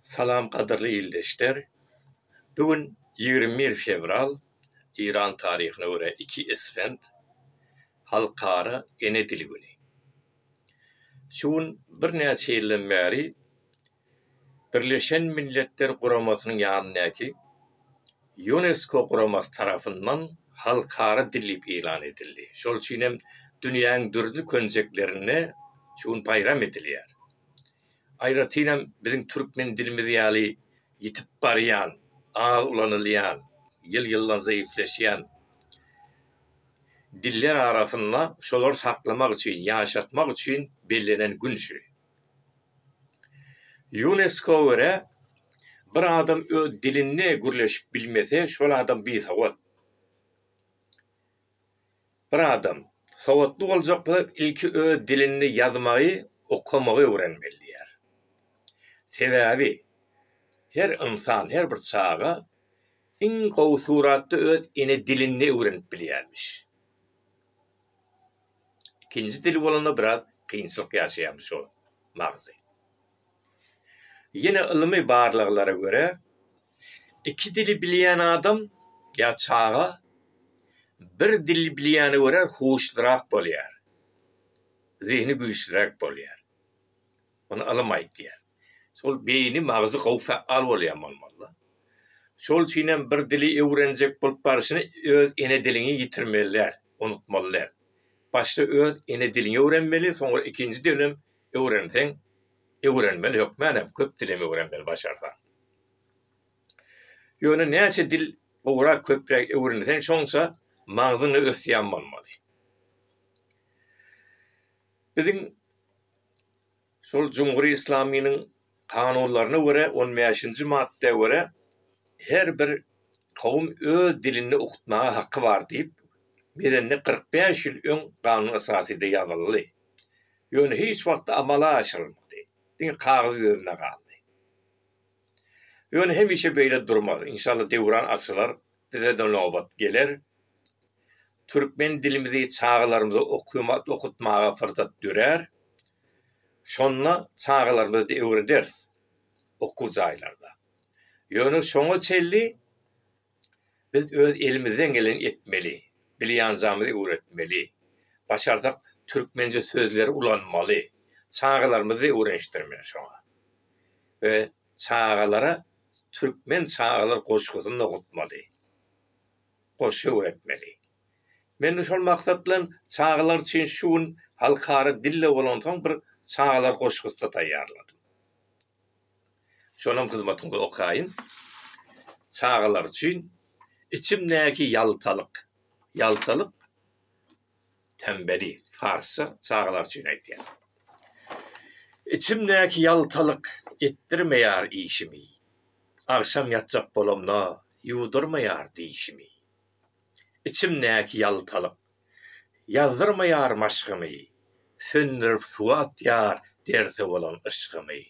Salam gadyrly ildeşler! Bu gün ýigrimi bir fewral, Eýran taryhyna görä iki isfent, Halkara ene dili güni. Şu gün birnäçe ýyldan bäri Birleşen Milletler Guramasynyň ýanyndaky Ýunesko guramasy tarapyndan halkara dilip ýylan edildi. Şol üçin hem dünýäň dürli könjeklerinde şu gün baýram edilýär. Aýratynam biziň türkmen dilimiz ýaly ýitip barýan, az ulanylýan, ýyl-ýyldan zeýifleşýän diller arasynda şolary saklamak üçin, ýaşatmak üçin bellenen gün şu. Ýunesko görä, bir adam öz dilinde gürleşip bilmese, şol adam bisowat. Bir adam sowatly boljak bolsa, ilki öz dilinde ýazmagy, okamagy öwrenmeli diýýär. Sebäbi her ynsan, her bir çaga iň gowy suratda öz ene dilinde öwrenip bilýärmiş. Ikinji dil bolanda biraz kynçylyk ýaşaýarmyş şol magzy. Ýene ylmy barlaglara görä, iki dili bilýän adam ýa çaga bir dili bilýäne görä huşlurak bolýar, zehni güýçlüräk bolýar. Muny ylym aýtýar. Şol beýni, magzy gowy fäal bolýan bolmaly. Şol üçin hem bir dili öwrenjek bolup barşyny öz ene diliňi ýitirmeli däl, unutmaly däl. Başda öz ene diliňi öwrenmeli, soňra ikinji dilem öwrenseň, öwrenmeli hökmän hem köp dilem öwrenmeli başarsaň. Ýöne näçe dil gowrak, köpräk öwrenseň şonça magzyň-a ösýän bolmaly. Biziň şol Jumhur-i Islamynyň kanunlaryna görä, on bäşinji madda görä, her bir kowum öz dilinde okutmaga haky bar diýip, belende kyrk bäş ýyl öň Kanun Esasyda ýazyldy. Ýöne hiç wagt amala aşyrylmady. Diňe kagyz ýüzünde galdy. Ýöne hemişe beýle durmaz. Inşallah döwran açylar. Bize-de nobat geler. Türkmen dilimizi çagalarymyza okumat okutmaga fyrsat dörär. Şonda çagalarymyza-da öwrederis okuw jaýlarda. Ýöne şoňa çenli biz öz elimizden geleni etmeli. Bilýänjamyzy öwretmeli. Başarsak türkmençe sözleri ulanmaly. Çagalarymyzy-da öwrenişdirmeli şoňa. We çagalara türkmen çagalar goşgusyny okatmaly, goşgy öwretmeli. Men-de şol maksat bilen çagalar üçin şu gün halkara dilde bolansoň bir çagalar goşgusy-da taýýarladym. Şonam hyzmatyňyza okaýyn. Çagalar üçin Içimdäki ýaltalyk, ýaltalyk. Tembeli, parsça çagalar üçin aýdýar. Içimdäki ýaltalyk etdirmeýär işimi, Agşam ýatjak bolamda ýuwdurmaýar dişimi. Içimdäki ýaltalyk ýazdyrmaýar maşgymy, Söndürip suwa atýar derse bolan yşgymy.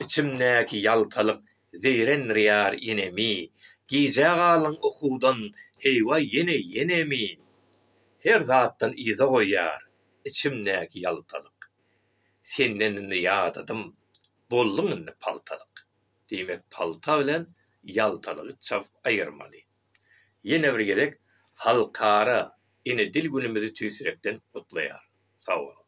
Içimdäki ýaltalyk Zeýrenrýär inemi, Gijä galyň ukudan, Heý-waý, ýene-ýenemi? Her zatdan yza goýýar, Içimdäki ýaltalyk. Senden indi ýadadym, Bolduň indi paltalyk. Diýmek, palta bilen ýaltalygy çapyp aýyrmaly. Ýene bir gezek Halkara ene dil günümizi tüýs ýürekden gutlaýarys. Sag boluň!